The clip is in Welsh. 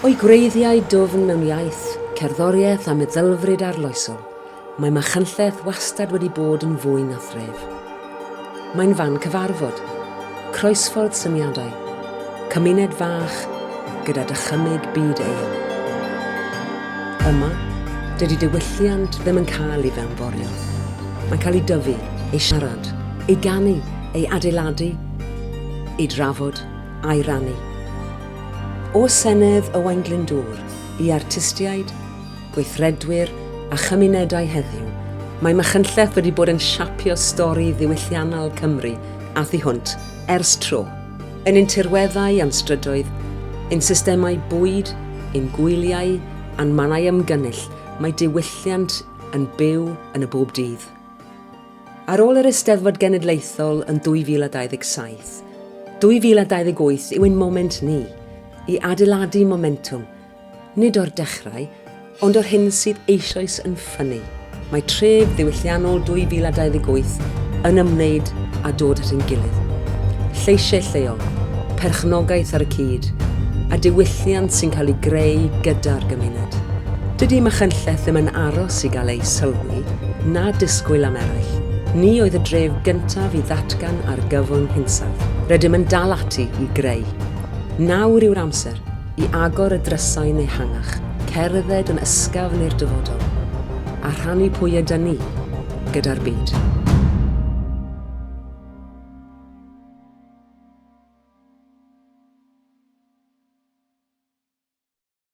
O'i gwreiddiau dwfn mewn iaith, cerddoriaeth a meddylfryd arloesol, Mae Machynlleth wastad wedi bod yn fwy na thref. Mae'n fan cyfarfod, croesffordd syniadau, cymuned fach gyda dychymyg byd eang. Yma, dydy diwylliant ddim yn cael ei fewnforio. Mae'n cael ei dyfu, ei siarad, ei ganu, ei adeiladu, ei drafod, a'i rannu. O Senedd Owain Glyndŵr i artistiaid, gweithredwyr a chymunedau heddiw, mae Machynlleth wedi bod yn siapio stori ddiwylliannol Cymru a thu hwnt ers tro, yn ein tirweddau a'n strydoedd, ein systemau bwyd, ein gwyliau a'n mannau ymgynnull, mae diwylliant yn byw yn y bob dydd. Ar ôl yr Eisteddfod Genedlaethol yn 2027, 2028 yw ein moment ni i adeiladu momentwm Nid o'r dechrau, ond o'r hyn sydd eisoes yn ffynnu. Mae tref ddiwylliannol 2028 yn ymwneud â dod at ein gilydd. Lleisiau lleol, perchnogaeth ar y cyd, a diwylliant sy'n cael ei greu gyda'r gymuned. Dydy Machynlleth ddim yn aros i gael eu sylwi, na disgwyl am eraill. Ni oedd y dref gyntaf i ddatgan argyfwng hinsawdd. Rydym yn dal ati i greu. Nawr yw'r amser. i agor y drysau yn ehangach, cerdded yn ysgafn i'r dyfodol, a rhannu pwy ydyn ni gyda'r byd.